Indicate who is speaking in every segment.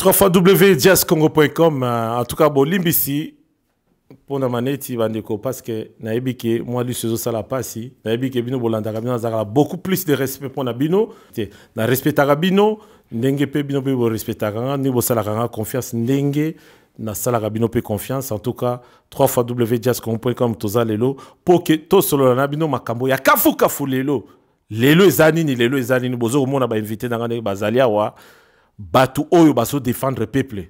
Speaker 1: www.jazzcongo.com euh, en tout cas bolimbisi mpona maneti bandeko parce que nayebi ke mwa liso ezosala mpasi nayebi ke bino bolandaka bino nazalaka beaucoup plus de respect mpona bino te na respectaka bino ndenge mpe bino mpe borespectaka nga ndenge bosalaka nga confiance ndenge nasalaka bino mpe confiance en tout cas 3 fois wjascom.com toza lelo mpo ke tosolola na bino makambo ya kafukafu lelo lelo eza nini lelo eza nini bozo komona bainvite na nga ndenge bazali awa bato oyo bazo défendre peuple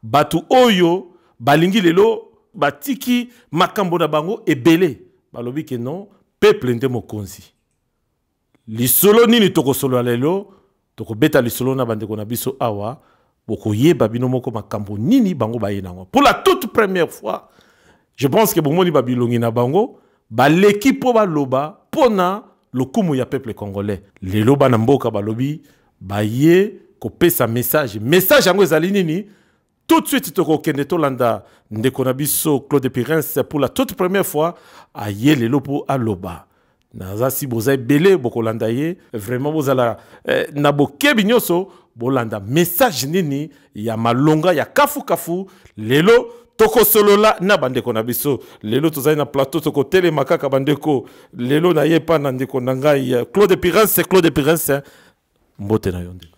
Speaker 1: bato oyo balingi lelo batiki makambo na bango ebele balobi ke non peuple nde mokonzi lisolo nini tokosolola lelo tokobeta lisolo na bandeko na biso awa bokoyeba bino moko makambo nini bango baye nango pour la toute première fois je pense que bomoni babilongi na bango baleki mpo baloba mpo na lokumu ya peuple congolais lelo bana mboka balobi baye kopesa message message yango ezali nini Tout de suite, toko kende tolanda ndeko na biso Claude Pirens pour la toute première fois à Yelelo pour Aloba. Naza si boza ebele bokolanda ye vraiment bozala eh, na bokebi nyonso bolanda message nini ya malonga ya kafu kafu lelo tokosolola na bandeko na biso lelo tozali na plateau tokotelema kaka bandeko lelo naye epa na ndeko na ngai eh, Claude Pirens Claude Pirens eh, mbote na yo ndeko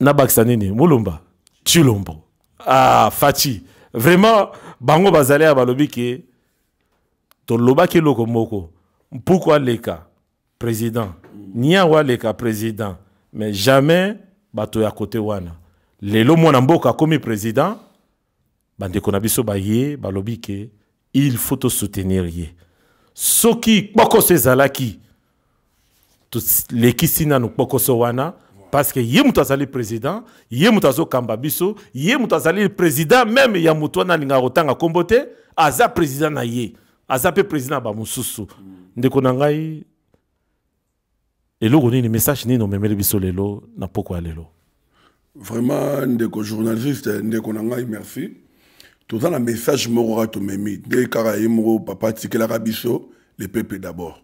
Speaker 1: na bakisa nini mulumba chilombo ah fachi vraiment bango bazali ya balobi ke tolobaki eloko moko mpuku aleka président niango aleka président mais jamais bato ya kote wana lelo mwana mboka akomi président bandeko na biso baye balobi ke il faut to soutenir ye soki kpokoso ezalaki tolekisi nanu kpokoso wana parce que ye moto azali président ye moto azokamba biso ye moto azali président meme ya moto wana alingaka kotanga nkombo te aza président na ye aza mpe président ya bamosusu ndeko na ngai eloko nini message nini omemeli biso lelo na poko ya lelo vraiment
Speaker 2: ndeko journaliste ndeko na ngai merci toza na message moko kaka tomemi nde kaka ye moko papa atikelaka biso le peuple d'abord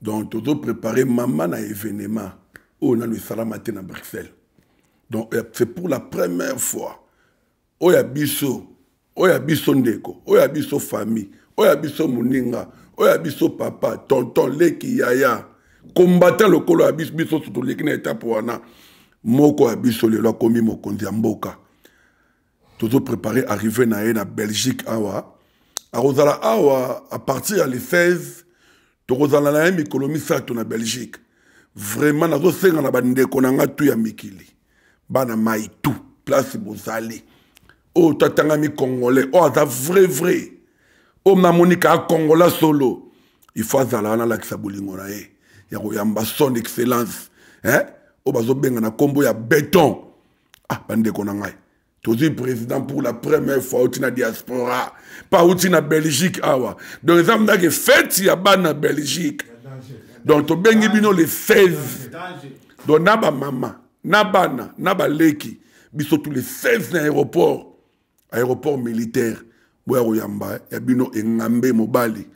Speaker 2: donc tozo prépare mama na événement oyo nano esalama te na bruxelles donc euh, c'est pour la première fois oyo ya biso oyo ya biso ndeko oyo ya biso famille oyo ya biso moninga oyo ya biso papa tonton leki yaya kombata lokolo ya biso biso toleki na etape wana moko ya biso lelo akomi mokonzi ya mboka tozoprepare arrive na ye na belgique awa akozala awa a partir ya le 16 tokozala na ye mikolo misato na belgique vraiment nazosenga na bandeko na ngai tu ya mikili bana mai tu place bozali oyo tatangami congolais oyo aza vrai vrai oyo namoni kaa congolais solo il faut azala wana alakisa bolingo na ye ya koyamba son excellence eh? oyo bazobenga na nkombo ya beton ah bandeko na ngai tozwi président pour la première fois auti na diaspora pa auti na belgique awa donc eza mdake fete ya bana belgique donc tobengi bino le 16 donc na bamama na bana na baleki biso tous les 16 na aéroport aéroport militaire boya koyamba ya bino engambe mobali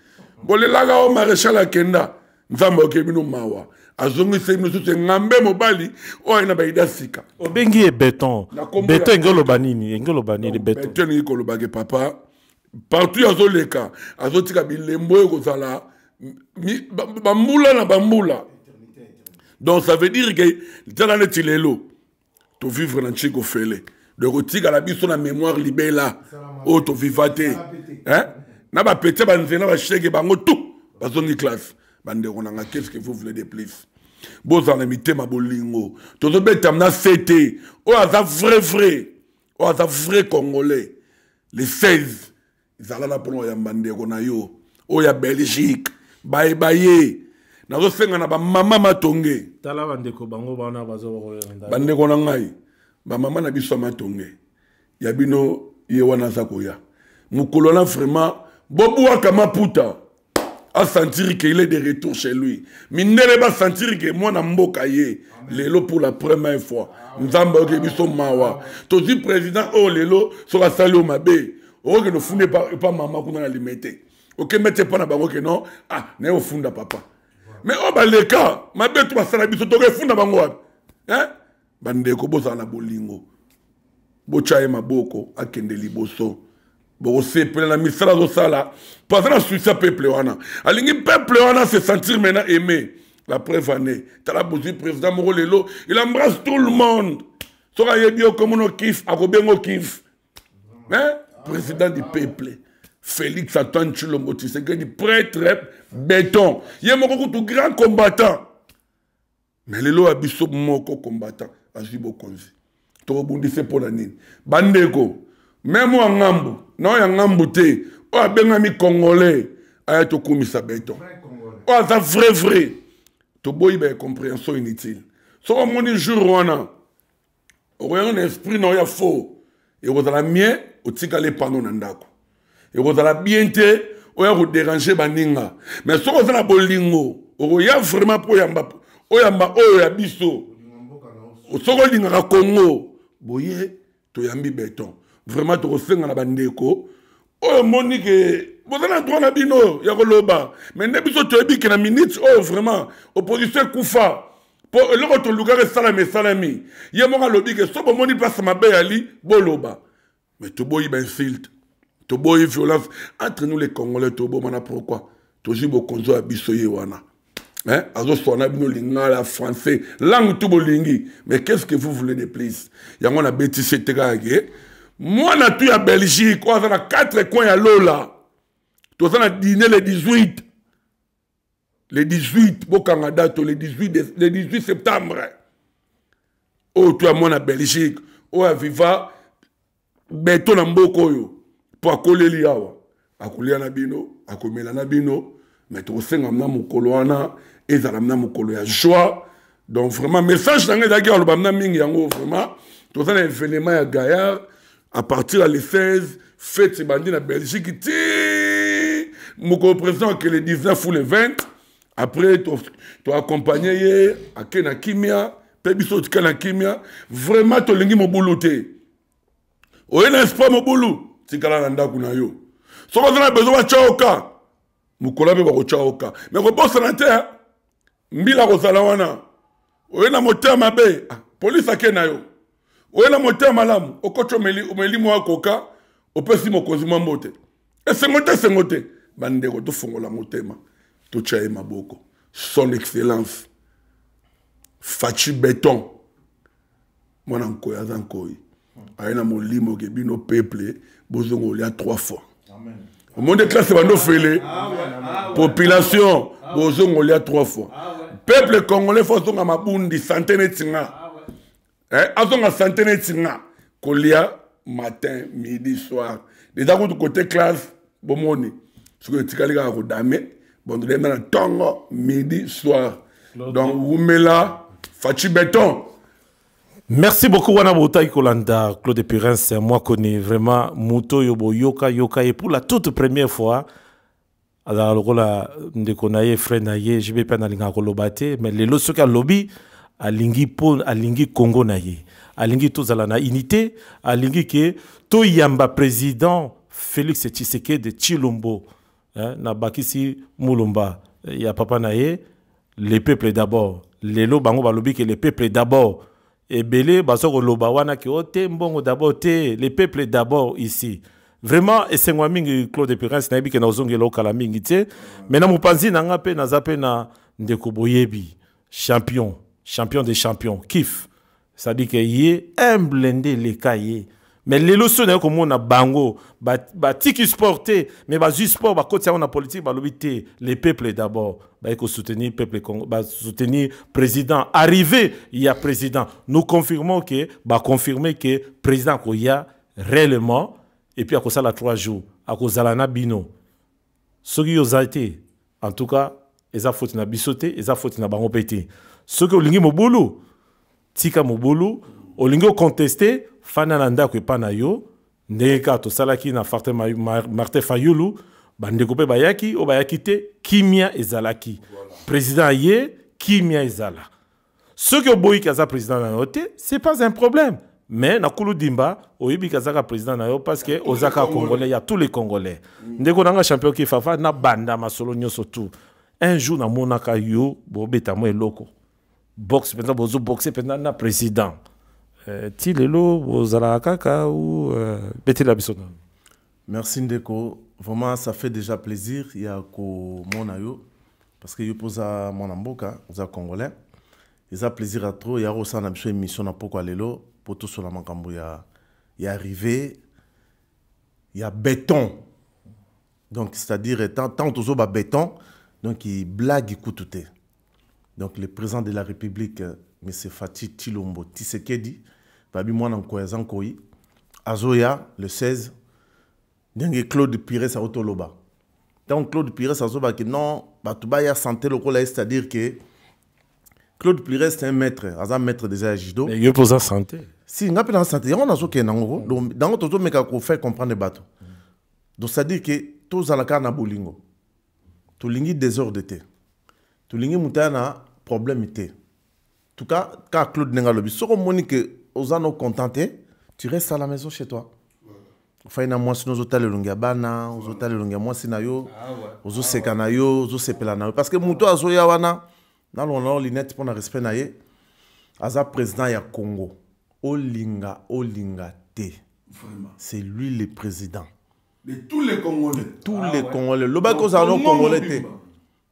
Speaker 2: bolelaka o maréchal akenda nzambe ayoki bino mawa azongisi bino susu engambe mobali oyo aye na baida sika obengi ye beton
Speaker 1: beton enge oloba nini enge oloba nini beton elingi kolobake
Speaker 2: papa partout azoleka azotika bilembo oyo kozala bambula na bambula donc ça veut dire ke tala neti lelo to vivre na nchiko fele donc otikala biso na mémoire libela oyo toviva te na bapete banzela na bashege bango tout bazongi classe bandeko nanga qu'est ce que vous voulez de plus bozala na mitema bolingo tozobetama na sete oyo aza vrai vrai oyo aza vrai congolais le 16 zala na mpono oyamba ndeko na yo oyo ya belgique baye baye nazosenga na bamama matonge tala bandeko bango
Speaker 1: bana bandeko na
Speaker 2: ngai bamama na biso ya matonge ya bino ye wana aza koya mokolo na vraiment bobwaka maputa asentiri ke il est de retour chez lui mindele basentiri ke mwana mboka ye lelo pour la première fois nzambe ayoki biso mawa tozwi président oyo oh, lelo soki asali oyo mabe okokende ofunda epa mama kuna na lime te okembe te epa na bango ke non ah naye ofunda papa mais oyo oh, baleka mabe to basala biso tokefunda bango wapi bandeko bozala na bolingo botya ye maboko akende liboso bokosepela na misala azosala mpo aza na susi ya peuple wana alingi peuple wana se sentir maintenant aimé la preuve année tala bozwi président moko lelo il embrasse tout le monde soki ayebi yo komono kif akobengo kif hein? président du peuple félix antoine chilombo tshisekedi prêtre béton ye moko kutu grand combattant mais lelo ya biso moko combattant azwi bokonzi tokobundise mpo na nini bandeko meme oyo ngambo na oyo ya ngambo te oyo abengami congolais aya tokumisa beton oyo aza vrai vrai toboyi ba incomprehension inutile soki omoni jour wana okoyanga na esprit na yo ya faux ekozala mie otikala epano na ndako ekozala bien te oya koderange baninga me soki oza na bolingo okoya vraiment mpo oyamba oyamba oyo ya biso soki olingaka congo boye toyambi beton vraiment tokosenga na bandeko oyo omoni ke boza na droit na bino ya koloba mais nde biso toyebi ke na minute oyo vraiment opposition ekufa mpo eloko tolukaka esalami esalami ye moko alobi ke so bomoni place mabe yali boloba mais toboyi bainsulte toboyi violence entre nous les congolais tobomana pourquoi tozwi bokonzi ya biso ye wana Hein? azoswana bino lingala français langue tu bolingi mais qu'est ce que vous voulez de plus yango na betisi ete kaka ke mwana tu ya belgique oyo aza na 4 coin ya lola toza na dine le 18 le 18 bokanga dato le 18, de, le 18 septembre oyo tu ya mwana belgique oyo aviva beto na mboka oyo mpo akoleli awa akolia na bino akomela na bino me tokosenga mna mokolo wana ezala mna mokolo ya joie donc vraiment message na ngai ezalaki aloba mna mingi yango vraiment toza na evenema ya gaillard à partir ya le 16 fete ebandi na belgique ti mokolo président ake le 19 ou le 20 après toaccompagne ye ake na kimia mpe biso otika na kimia vraiment tolingi mobulu te oye na espoir mobulu tikala na ndako na yo soki oza na bezo batyaoka mokolo mpe bakotyaoka me kobosana te mbila akozala wana oye na motema mabe ah, polisi ake na yo oye na motema malamu okoti omeli mwa koka opesi mokonzi mwa mbote esengo te esengo te bandeko tofongola motema totya ye maboko son excellence faci beton mwana nkoi aza nkoi aye na molimo ke bino peuple bozonga olia trois fois omoni classe bando ofele population bozonga olia trois fois peuple congolais fo azonga mabundi sante neti nga eh, azonga sante neti nga kolia matin midi soir deja kutu kote classe bomoni soki etikali kaka kodame bondodeme na ntongo midi soir donc wumela faci beton
Speaker 1: merci beaucoup wana botaki kolanda claude purence mwakoni vraiment moto oyo boyoka yoka ye pour la toute première fois azalaka lokola ndeko na ye frère na ye jb mpe analingaka koloba te mais lelo soki alobi alingi mpo alingi congo na ye alingi tozala na unité alingi ke toyamba président félix tshisekedi tshilombo eh, nabakisi mulumba eh, ya papa na ye le peuple d'abord lelo bango balobi ke le peuple d'abord ebele baza koloba wana ke o te mbongo d'abord te le peuple d'abord ici vraiment esengo ya mingi claude prince nayebi ke naozongela okala mingi te mai na mopanzi na nga mpe naza mpe na ndeko boyebi champion champion de champion kif sadike ye humble nde eleka ye mais lelo so naye komona bango batiki ba sport te mais bazwi sport bakotisa yango na politike balobi te le peuple d'abord baye kosoutenir peuple congo basoutenir président arrivé ya président nous confirmons ke baconfirme ke président akoya réellement et puis akosala trois jours akozala na bino soki yo oza te en tout cas eza foti na biso te eza foti na bango mpe te soki olingi mobulu Tika mobulu, olingi okonteste, fanda na ndako epa na yo, ndenge kaka tosalaki na Martin Fayulu, bandeko mpe bayaki, oyo bayaki te, kimia ezalaki. President aye, kimia ezala. Soki oboyi ke aza president na yo te, c'est pas un problème. mais na kulu dimba oyebi kazaka président na yo parce que oza kaka congolais ya tous les congolais ndeko na nga champion kifafa nabanda masolo nyonso tout un jour namonaka yo bobeta mwa eloko boxe mpenza bozo boxe mpenza na président euh, ti lelo bozalaka kaka ou euh, betela biso nano merci
Speaker 3: ndeko vraiment ça fait déjà plaisir ya komona yo parce que yo mpo oza mwana mboka oza congolais eza plaisir ya trop ya kosala na biso émission na pokwa lelo mpo tosola makambo ya ya arrivé ya béton donc c'est-à-dire tant, tant tozoba béton donc blague kutu te donc le président de la république euh, m fati tilombo tisekedi babi mwana nkoyi aza nkoyi azoya le 16 ndenge claude pires auti oloba ntango claude pires azobaki non bato baya sante lokola ye c'est-à-dire que claude pires c'est un maître aza maître déjà ya judo yo mpe oza sante
Speaker 1: si nga mpe na sante
Speaker 3: yango nazokende yango mm. yango tozomeka kofaire comprendre bato donc c'est-à-dire que tozala kaka na bolingo tolingi desordre te tolingi moto aya na problème te tuka kaka claude ndenge alobi soki omoni ke oza no content te tu reste à la maison chez toi ofai na mwasi no ozotala elongi ya bana ozotala elongi ya mwasi na yo ah ozoseka ah na yo ozosepela na yo parce que moto azoya wana nalongola nao linete mpo na respect na ye aza président ya congo olinga olinga te c'est lui le président de tous les
Speaker 2: congolais de tous ah, les ouais. congolais
Speaker 3: lobaki ozala no congolais te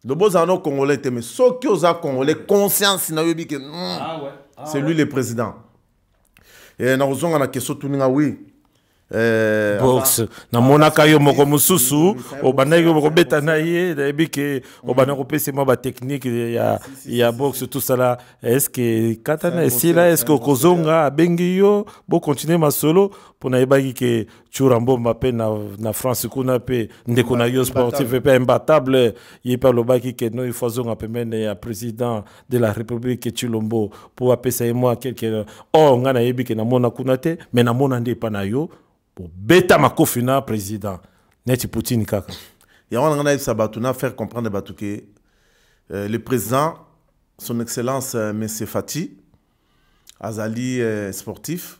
Speaker 3: loba ozala no congolais te mais soki oza congolais conscience na yoyebi ke mm, ah, ouais. ah, c'est lui ouais. le président eh, nakozonga na question tuninga oui Eh,
Speaker 1: box ah, namonaka yo moko mosusu obandaki yo mokobeta na ye nayebi ke obanda kopesa mwa batechnike ya, ya box tosala eske katana esila eske okozonga abengi yo bokontinue masolo mpo nayebaki ke Tshura Mbomba pe na, na France kuna pe ndeko na yo sportif pe imbattable ye pe alobaki ke no il faut azonga pembeni ya président de la République Tshilombo po apesa ye mwa quelque or oh, ngai nayebi ke namona kuna te me namona nde epa na yo bobeta makofi na président neti Poutine kaka yango na ngai nayebisa
Speaker 3: bato na faire comprendre bato ke euh, le président son excellence euh, monsieur Fati azali euh, sportif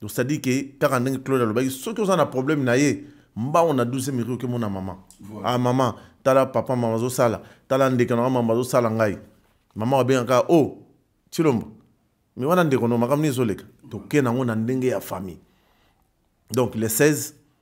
Speaker 3: donc c'est à dire que kaka ndenge claude alobaki soki oza na problème na ye mbango na 12 miri oke mona mama voilà. ah mama tala papa mama azosala tala ndeke na mama azosala ngai mama abengaka o oh, tilombo me wana ndeko no makambo nini ezoleka toke nango na ndenge ya famille donc le 16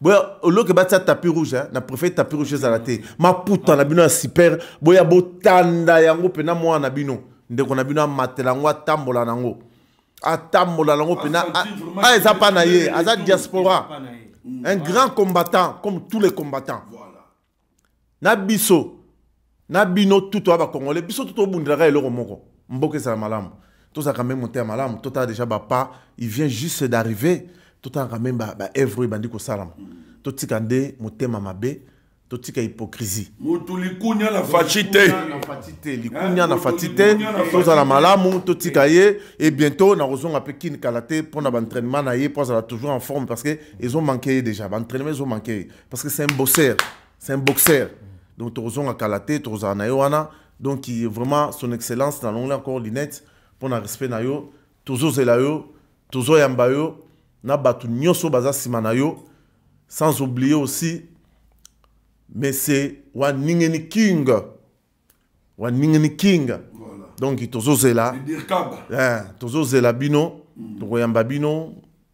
Speaker 3: boya oloke batia tapi rouge eh? na préfère tapi rouge ezala te maputa na bino ya super boya botanda yango mpena mwana na bino ndeko na bino amatela yango atambola na yango atambola na yango mpena a eza mpa na ye aza diaspora un grand combattant comme tous les combattants voilà. na biso na bino tutu ya bakongole biso tutu obundelaka eloko moko mboka ezala malamu tozalaka meme moteya malamu totala déjà bapa il vient juste d'arriver totalaka meme baevre oyo ebandi kosalama totika nde motema mabe totika hypocrisie mutu likunya
Speaker 2: na faci te eh, likunya
Speaker 3: na faci te tozala malamu totika ye e bientôt nakozonga mpe kini kala te mpo na baentrainement na ye mpo azala toujours en forme parce que ezomanke ye déjà baentrainement ezomanke ye parce que c'est un bosseur c'est un boxeur donc tokozonga kala te tokozala na ye wana donc vraiment son excellence nalongoli encore linette mpo na respect na yo tozozela yo tozoyamba yo na bato nyonso baza nsima na yo sans oublier aussi monsieur waningeni king waningeni king voilà. donc tozozela eh, tozozela bino mm. tokoyamba bino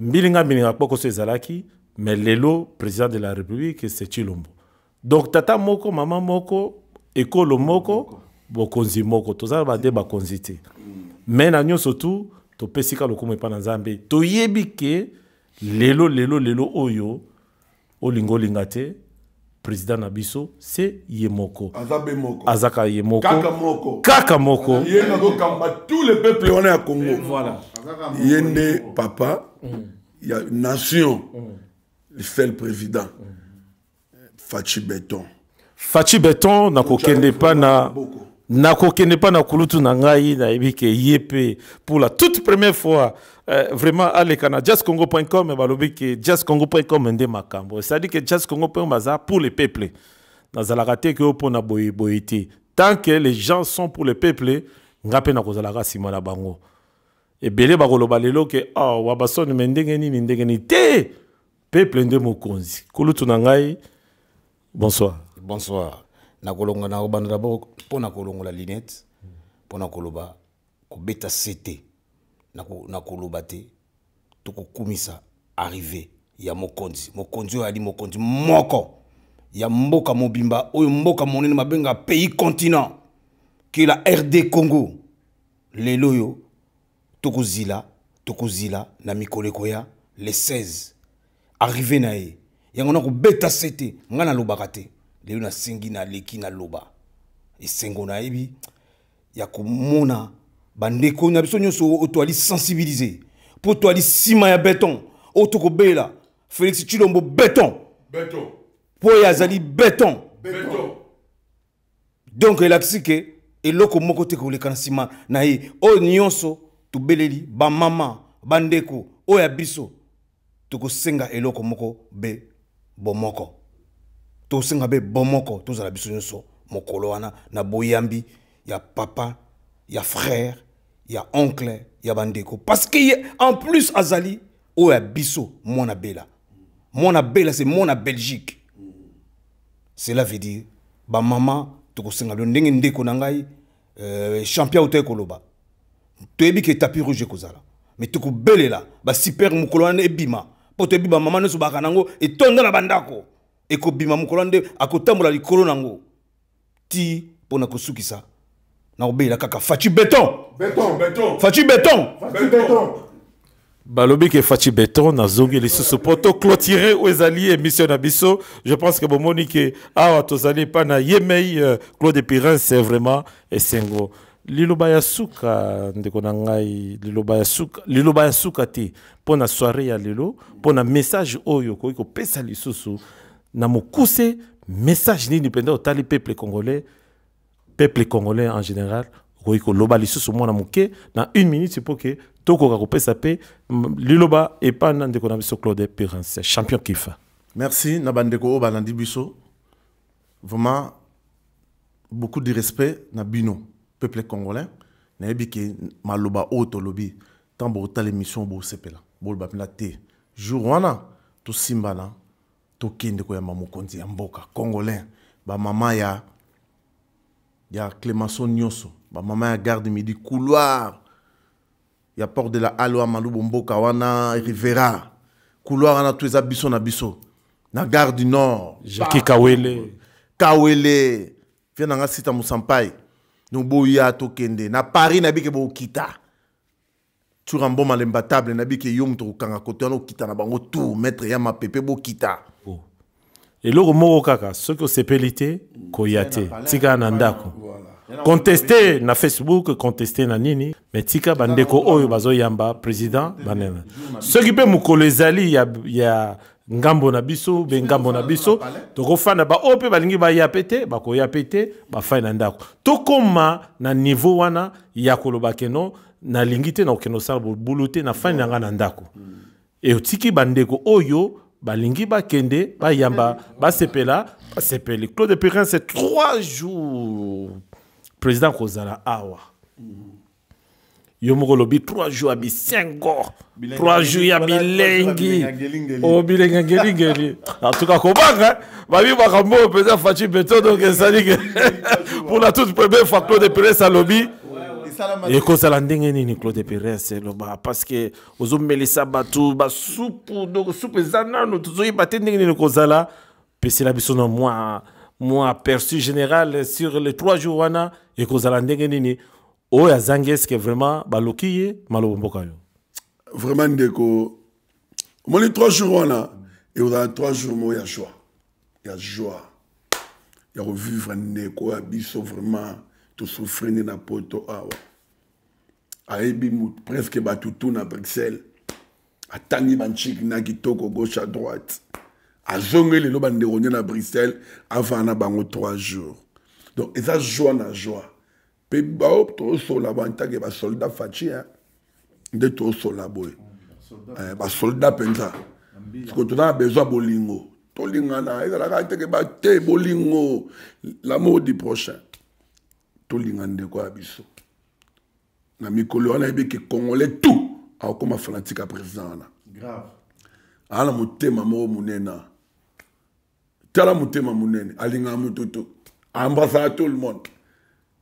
Speaker 1: Mbilinga mbilinga kpokoso ezalaki mais lelo président de la république c'est Chilombo. Donc tata moko maman moko ekolo moko bokonzi moko toza ba nde bakonzi te. Mais na nyoso tout topesi ka lokumu epa na Nzambe. Toyebi ke lelo lelo lelo oyo olinga olinga te president na biso se ye moko azaka
Speaker 2: ye moko
Speaker 1: kaka
Speaker 2: moko ye
Speaker 1: nakokamba tout
Speaker 2: le peuple wana ya congo voilà. ye nde papa mm. ya nation mm. le seul président mm. faci beton Fatshi Beton
Speaker 1: na kokende pa na na kokende pa na kulutu na ngai na ebike yepe pour la toute première fois euh, vraiment aleka na jazzcongo.com balobi ke jazzcongo.com nde makambo c'est à dire que jazzcongo.com baza pour les peuples nazalaka te ke opo na boye boye te tant que les gens sont pour les peuples nga pe na kozalaka sima na bango ebele bakoloba lelo ke oh, wabasoni me ndenge nini ndenge nini te peuple nde mokonzi kulutu na ngai bonsoir bonsoir
Speaker 4: nakolonga na obanda dabord mpo na kolongola linete mpo na koloba kobeta sete na koloba te to kokumisa arrive ya mokonzi mokonzi oyo ali mokonzi moko ya mboka mobimba oyo mboka monene mabenga pays continent ke la rd congo lelo oyo tokozila tokozila na mikolo ekoya le 16 arrive na ye yango nakobeta se te ngai nalobaka te lelo nasengi naleki naloba esengo nayebi ya komona bandeko na biso nyonso oyo toali sensibilize mpo toali nsima ya beton oyo tokobela félix chilombo beton mpo ye azali beton, beton. beton. donc elakisi ke eloko moko te koleka na nsima na ye oyo nyonso tobeleli bamama bandeko oyo ya biso tokosenga eloko moko be bomoko tokosenga be bomoko tozala biso nyonso mokolo wana na boyambi ya papa ya frère ya oncle ya bandeko parce que ye en plus azali oyo ya biso mwana bela mwana bela se mwana belgique cela veut dire ba maman tokosenga bino ndenge ndeko na ngai euh, champion autai koloba toyebi ke tapis rouge ekozala me tokobelela basiper mokolo wana ebima mpo toyebi bamama nyonso baka nango etonda na bandako ekobima mokolo wana nde akotambola likolo nango ti pona kosukisa nakobeyela kaka faci beton faci beton
Speaker 1: balobi ke faci beton nazongi lisusu mpo toclotire oyo ezali émission na biso je pense ke bomoni ke awa tozali epai na ye mei euh, claude pirence vraiment esengo liloba ya suka ndeko na ngai liloba ya suka liloba ya suka te mpo na soirée ya lelo mpo na message oyo okoki kopesa lisusu na mokuse message nini mpenza otali peuple congolais peuple congolais en général okoki koloba lisusu mwana moke na une minute mpo ke tokoka kopesa mpe liloba epa na ndeko na biso claude perance champion kifa merci na bandeko
Speaker 3: oyo balandi biso vraiment beaucoup de respect na bino peuple congolais nayebi ke maloba oyo tolobi ntango bokotala émission bosepela boloba mpena te jour wana tosimbana tokende koyamba mokonzi ya mboka congolais bamama ya ya clemenceau nyonso bamama ya garde midi couloir ya porte de la aloa malubo mboka wana rivera couloir wana to eza biso na biso na gare du nord jaki kawele
Speaker 1: kawele fia na nga sita mosampai noboya
Speaker 3: tokende na paris na bike bokita Tshoura mboma l'imbattable nayebi ke yo moto okokanga kote wana okita na bango tour maître ya mapepe bokita oh.
Speaker 1: eloko moko kaka soki osepeli te koya te tika na ndako conteste na facebook conteste na nini me tika bandeko oyo bazoyamba président banena soki mpe mokolo ezali ya, ya ngambo na biso be ngambo na biso tokofanda baoyo mpe balingi baya mpe te bakoya mpe te bafai na ndako tokoma na niveau wana ya koloba keno nalingi te na kokende kosala bobulu te na fani na ngai na ndako mm. e otiki bandeko oyo balingi bakende bayamba basepela basepeli claude perin c'est trois jours président kozala awa mm. yo moko olobi trois jours ya bisengo trois jours ya bilengi o bilengi oh, ngelingeli en tout cas kobanga babi makambo oyo mpenza faci beton donc ezali ke pour la toute première fois claude pires alobi ekozala ndenge nini claude pires eloba parce que ozomelisa bato basupu donc supu eza nano tozoyeba te ndenge nini ekozala pesela biso na mwa mwa aperçu général sur les trois jours wana ekozala ndenge nini oyo azangi eske vraiment baloki ye malobo mboka yo vraiment ndeko
Speaker 2: omoni 3 jours wana ekozala 3 jours moko ya joie ya joie ya kovivre ndeko ya biso vraiment tosouffri nde na poto awa ayebi presque bato tu na bruxelles atangi banciki na kitoko gauche à droite azongi lelo bandeko nde na bruxelles avanda na bango 3 jours donc eza joie na joie mpe bao tozosola bo antake basoldat faci nde tozosola boye eh, basoldat mpenza siko toza na besoin bolingo tolingana ezalaka nteke bate bolingo lamour du prochain tolinga ndeko ya biso na mikolo wana yebi ke congolais tout akokoma fanatique ya président wana aa na motema moko monena tala motema monene alingaka moto to embrassaka tout le monde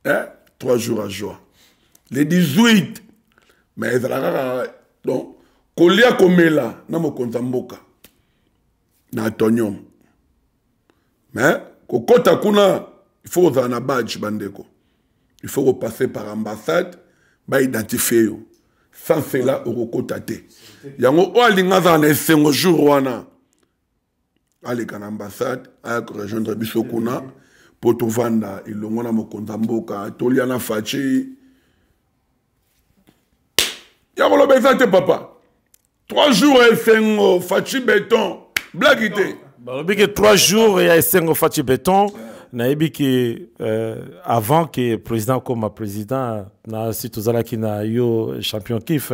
Speaker 2: eh? trois jours à joie le 18 mais ezalaka kaka donc kolia komela na mokonzi ya mboka na atonium mais kokɔta kuna il faut kozala na badge bandeko il faut kopasser par ambassade baidentifie yo sans cela okokota te yango oyo alingi azala na esengo jour wana aleka na ambassade aya korejoindre biso kuna mpo tovanda elongo na mokonzi ya mboka tolia na faci ya koloba eza te papa trois jours ya esengo faci beton blaki te balobi ke trois
Speaker 1: jours ya esengo faci beton yeah. nayebi ke euh, avant ke président akoma président na si tozalaki na yo champion kif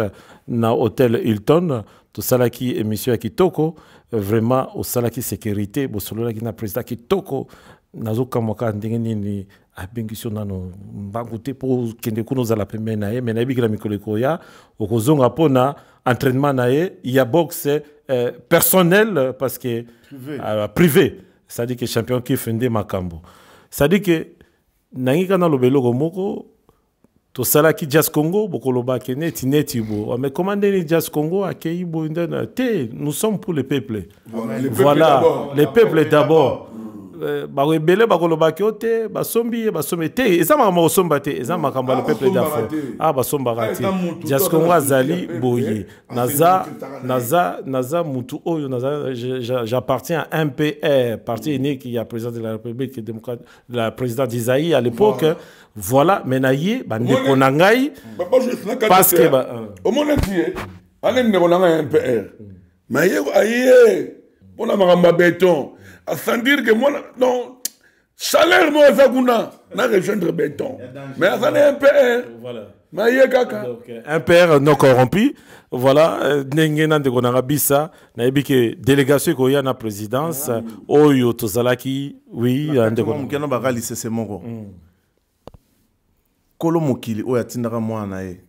Speaker 1: na hôtel hilton tosalaki émission ya kitoko vraiment osalaki sécurité bosololaki na président kitoko nazokamwa kaka ndenge nini abengisi yo nano mbangu te mpo okende kuna ozala pembeni na ye me nayebi kila mikolo ekoya okozonga mpo na entraînement na ye ya boxe euh, personnel parce que privé, euh, privé. c'est-à-dire que champion kife nde makambo c'est-à-dire que nangi kaka naloba eloko moko tosalaki jazz congo bokoloba ke neti neti bo ah, mais comment ndeni jazz congo akei boye nde na te nous sommes pour le peuple voilà le peuple d'abord euh, bato ebele bakoloba ke o te basombi ye basombi te eza makambo kosomba te eza makambo ya le peuple d'afrique a ah, basombaka te jazz congo azali boye naza naza naza mutu oyo naza j'appartiens à mpr parti unique ya président de la république démocrate la présidente d'Isaïe à l'époque voilà. voilà mais na ye bandeko na ngai parce que ba euh. omona ti ye
Speaker 2: ane ndeko na ngai mpr mais ye aye mpo na makambo ya béton à sans dire que mwana non salaire moko aza kuna na rejoindre béton mais aza na mpr voilà. na ye kaka un père non
Speaker 1: corrompu voilà euh, ndenge na ndeko nanga bisa nayebi ke délégation ekoya na présidence ah. oyo tozalaki oui ndeko moke na baka
Speaker 3: lisese moko mm. kolo mokili oyo atindaka mwana na ye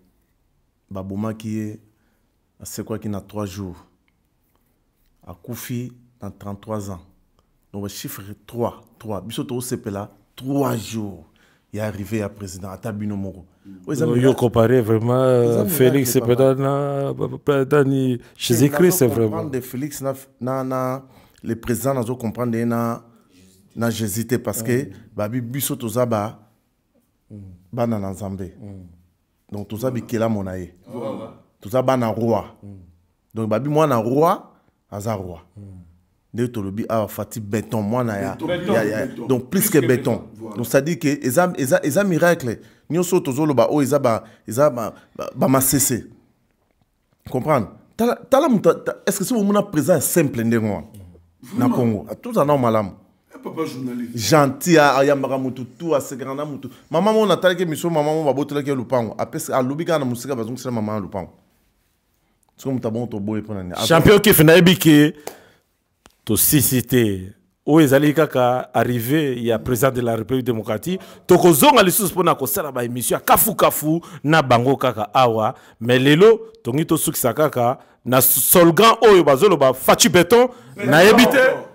Speaker 3: babomaki ye asekwaki na 3 jours akufi na 33 ans donc bachiffre 3 3 biso tokosepela 3 jours ya arrivé ya président ata bino moko yo comparé
Speaker 1: vraiment euh, félix mpeda na ni jésus christ vraiment de félix na, na,
Speaker 3: na le président nazo comprendre ye na, na jésus te parce que mm. babi biso toza ba mm. bana na nzambe mm. donc toza bikelamo na ye toza bana roi donc babi mwana roi aza roi hmm. ndenge tolobi awa fati beton mwana ya, ya, ya donc plus
Speaker 2: que beton
Speaker 3: voilà. donc c'est-à-dire que
Speaker 2: eza,
Speaker 3: eza, eza miracle nyonso tozoloba oyo oh, eza ba, eza ba, ba, ba masese comprendre tala, tala moto est ce que soki omona présent ya simple ndenge wana na congo tozala nao malamu eh,
Speaker 2: gentil ayambaka
Speaker 3: motu tu asekaka na motu mama moko natalaki miso mama moko babotolaki ya lopango alobi kaka na mosika bazongisela mama ya lopango soki moto abongo toboye mpo na nini champion kefe nayebi ke
Speaker 1: tosisi te oyo ezali kaka arrivé ya président de la république démocratique tokozonga lisusu mpona kosala baémission ya kafukafu na bango kaka awa mais lelo tongi tosukisa kaka na solgan oyo bazoloba faci beton nayebi te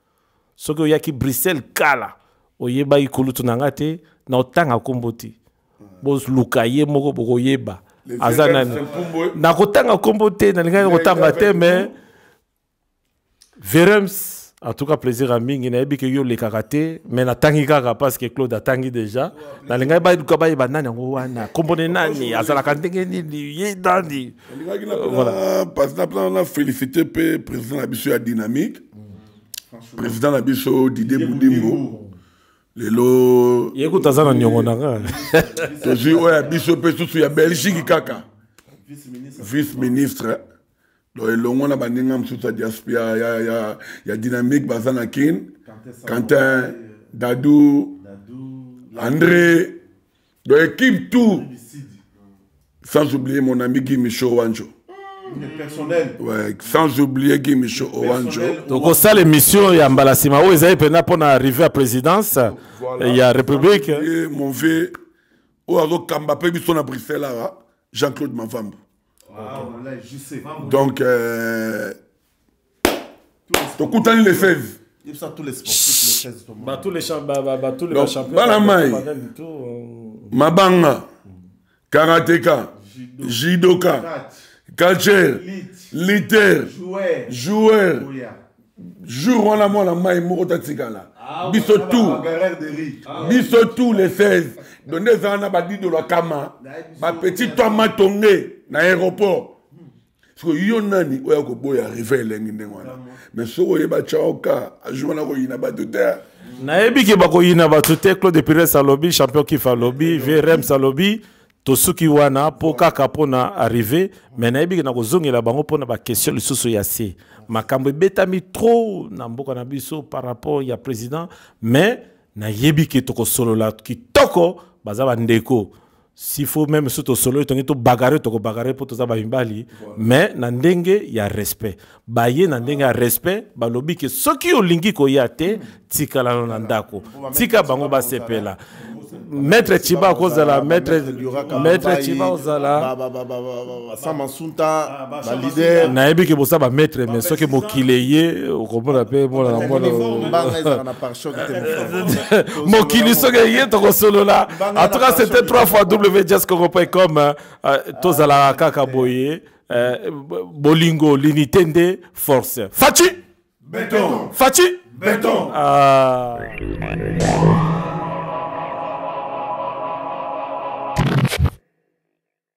Speaker 1: soki oyaki bruxelles kala oyebaki kulutu na nga te na otanga nkombo te boluka ye moko bokoyeba aza nani nakotanga nkombo te nalingaki nakotanga te mais verems en tout cas plaisir à mingi nayebi ke yo olekaka te mais natangi kaka parce que claude atangi déjà nalingaki baluka bayeba nani yango wana kombone nani azalaka ndenge nini ye nani
Speaker 2: euh, voilà na félicité mpe président na biso ya dynamique président na biso didie budimbo lelo ye kutu aza na
Speaker 1: niongo na nga tozwi
Speaker 2: oyo ya biso mpe susu ya belgique kaka vice ministre donc elongo na baninga mosusu ya diaspia ya, ya, ya dynamique baza na kin quentin dadou andré donc équipe tout sans oublier mon ami Guy Michaud Wanjo personnel ouais, sans oublier Guy Michaud Wanjo tokosala
Speaker 1: émission ya mbala nsima oyo ezali mpenza mpo na arrivé ya présidence voilà. ya république mon vieux
Speaker 2: oyo azokamba mpe biso na bruxelles awa jean-claude mavambo ah, okay. donc euh, tokutani le 16 yebisa tous les sportifs
Speaker 3: le 16 to ba tous les champs ba
Speaker 1: ba, ba tous les Donc, champions bana mai
Speaker 2: mabanga karateka jidoka catcher liter joueur jour wana mwana mai moko tatikala ah, biso tout ah, biso tout le 16 donc nde ezala na badidolo ya kama bapetit to matonge na aéroport siko yo nani oyo akoboya rive elengi ndenge wana mais soki oyeba chaoka azuma na koyina bato te nayebi ke
Speaker 1: bakoyina bato te claude pires alobi champion kif alobi vrms alobi tosuki wana mpo kaka mpo na arrive mai nayebi ke nakozongela bango mpo na baquestion lisusu ya se makambo ebetami trop na mboka na biso par rapport ya président mais nayebi ke tokosolola kitoko baza bandeko s'il faut même soki tosololi tongi tobagare tokobagare mpo toza bamibali mais na ndenge ya respect baye na ndenge ya respect balobi ke soki olingi koya te tikalano na ndako tika bango basepela maître chiba akozala maître chiba ozala basa masunta ah,
Speaker 3: balider nayebi ke bosa bamaître
Speaker 1: mais soki mokili eye okomona mpe monana mokili soki eye tokosolola en tout cas c'était 3 fois wjscongo.com euh, euh, tozalaka kaka boye euh, bolingo linite nde force faci beton faci beton
Speaker 2: ah.